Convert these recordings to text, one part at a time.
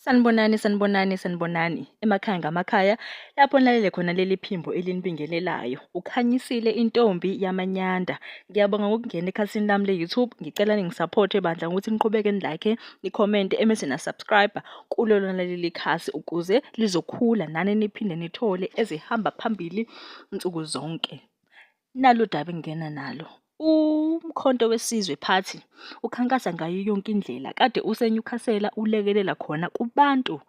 Sanibonani, sanibonani, sanibonani. Emakhaya ngamakhaya lapho nilalele khona leli phimbo elinibingelelayo. Ukhanyisile intombi yamanyanda. Ngiyabonga ngokungena ekhasini lami le-YouTube. Ngicela ningisaphothe bandla ngokuthi niqhubeke nilike, nikhomente emese na-subscribe kulo lona leli khasi ukuze lizokhula nani niphinde nithole ezihamba phambili nsuku zonke. Nalo daba engingena nalo. UMkhonto weSizwe Party ukhankasa ngayo yonke indlela kade usenyukhasela ulekelela khona kubantu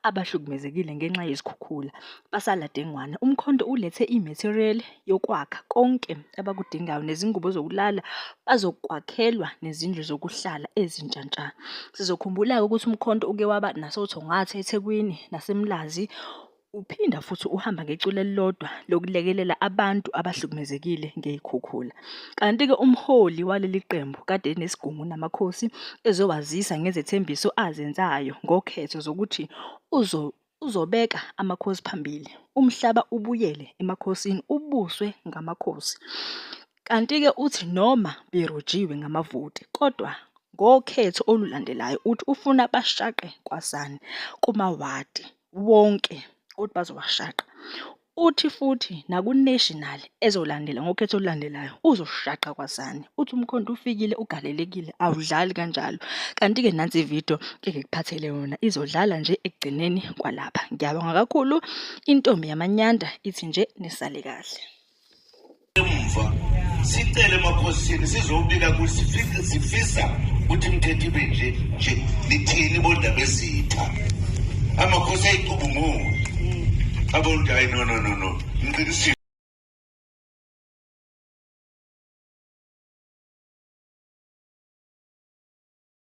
abahlukumezekile ngenxa yezikhukhula basala dengwane. UMkhonto ulethe i-material yokwakha konke abakudingayo nezingubo zokulala bazokwakhelwa nezindlu zokuhlala ezintsha ntsha. Sizokhumbula-ke ukuthi uMkhonto uke waba nasoThongatha eThekwini naseMlazi Uphinda futhi uhamba ngecula elilodwa lokulekelela abantu abahlukumezekile ngey'khukhula. Kanti-ke umholi waleli qembu kade enesigungu namakhosi ezowazisa ngezethembiso azenzayo ngokhetho zokuthi uzo uzobeka amakhosi phambili. Umhlaba ubuyele emakhosini ubuswe ngamakhosi. Kanti-ke uthi noma berojiwe ngamavoti kodwa ngokhetho olulandelayo uthi ufuna bashaqe kwasani kumawadi. wonke ukuthi bazowashaqa. Uthi futhi naku-national ezolandela ngokhetho olulandelayo uzoshaqa kwazani. Uthi umkhonto ufikile ugalelekile awudlali kanjalo. Kanti-ke nansi ividiyo engikuphathele yona izodlala nje ekugcineni kwalapha. Ngiyabonga kakhulu intombi yamanyanda ithi nje nisale kahle. emva sicele emakhosini sizobika ukuthi sifisa ukuthi imithetho ibe nje nje nithini bondaba ezitha amakhosi ayicubungule abontu hayi no no no no ngiqinisile